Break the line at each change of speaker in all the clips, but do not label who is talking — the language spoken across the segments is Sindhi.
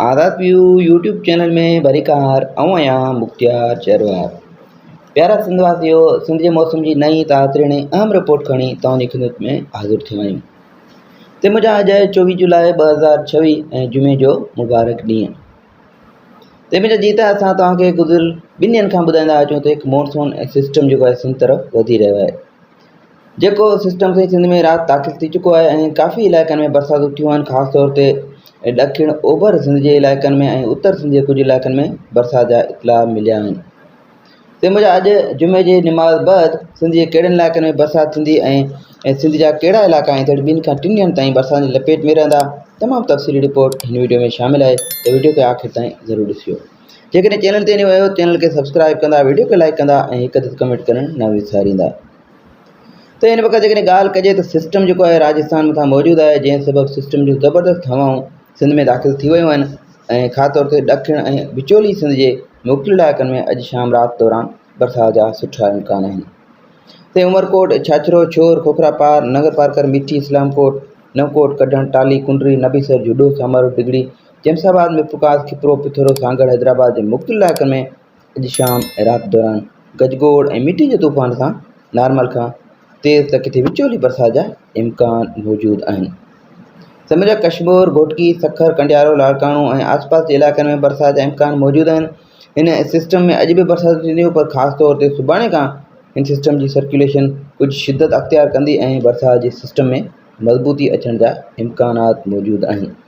آزاد ويو يوٽيوب چينل ۾ ڀليڪار آئون آهيان مختيار شهروار پيارا سنڌ واسيو سنڌ جي موسم جي نئين تازرين ۽ اهم رپورٽ کڻي توهان جي خدمت ۾ حاضر ٿيو آهيون تي مجا اڄ آهي چوويهه جولاء ٻه هزار ڇويهه ۽ جمعي جو مبارڪ ڏينهن تي مجا جي ته اسان توهان کي گذريل ٻن ڏينهن کان ٻڌائيندا اچون ته هڪ مونسون سسٽم جيڪو آهي سنڌ طرف وڌي رهيو آهي جيڪو سسٽم سائين سنڌ ۾ رات داخل ٿي چڪو آهي ۽ ڪافي علائقن ۾ برساتون ٿيون آهن خاص طور تي ڏکڻ اوڀر سنڌ جي علائقن ۾ ۽ اتر سنڌ جي ڪجهه علائقن ۾ برسات جا اطلاع مليا آهن تنهن موجب اڄ جمعي جي نماز بعد سنڌ جي ڪهڙن علائقن ۾ برسات ٿيندي ۽ سنڌ جا ڪهڙا علائقا آهن جهڙ ٻن کان ٽن ڏينهن تائين برسات جي لپيٽ ۾ رهندا تمام تفصيلي رپورٽ هن وڊيو ۾ شامل آهي ته وڊيو کي آخر تائين ضرور ڏسجو جيڪڏهن چينل تي نيو آهيو چينل کي سبسڪرائب ڪندا ويڊيو کي لائڪ ڪندا ۽ هڪ ادد ڪمينٽ ڪرڻ نه وساريندا ته هن وقت جيڪڏهن ڳالهه ڪجي ته سسٽم جيڪو آهي راجسٿان مٿان موجود آهي جنهن سبب سسٽم جون زبردست هوائون سنڌ ۾ داخل ٿي ويون آهن ۽ خاص طور تي ڏکڻ ۽ وچولي سنڌ جي موڪل علائقن ۾ اڄ شام رات دوران برسات جا سٺا امڪان آهن تي عمرڪوٽ ڇاڇرو ڇور کوکرا پار نگر پارڪر مٺي اسلام ڪوٽ نوڪوٽ ڪڍڻ ٽالي ڪنڊري نبيسر جهڏو سمر ڊگڙي جيمس آباد ۾ ڦوڪار، کپرو، پٿورو، سانگهڙ، حيدرآباد جي مختلف علائقن ۾ اڄ شام ۽ رات دوران گجگوڙ ۽ مٽي جي طوفان سان نارمل کان تيز ته ڪٿي وچولي برسات جا امڪان موجود آهن. سميجا ڪشمور، گهوٽڪي، سکر، ڪنڊيارو، لاڙڪاڻو ۽ آس پاس جي علائقن ۾ برسات جا امڪان موجود آهن. هن سسٽم ۾ اڄ به برساتون ٿينديون پر خاص طور تي سڀاڻي کان هن سسٽم جي سرڪيوليشن ڪجهه شدت اختيار ڪندي ۽ برسات جي سسٽم ۾ مضبوطي اچڻ جا امڪانات موجود آهن.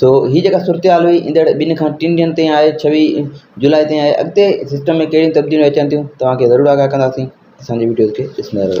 سو هي جيڪا صورتحال هئي ايندڙ ٻن کان ٽن ڏينهن تائين آهي ڇويهه جولاء تائين آهي اڳتي سسٽم ۾ ڪهڙيون تبديليون اچن ٿيون توهان کي ضرور آگاهه ڪنداسين اسان جي وڊيوز کي ڏسندا رهو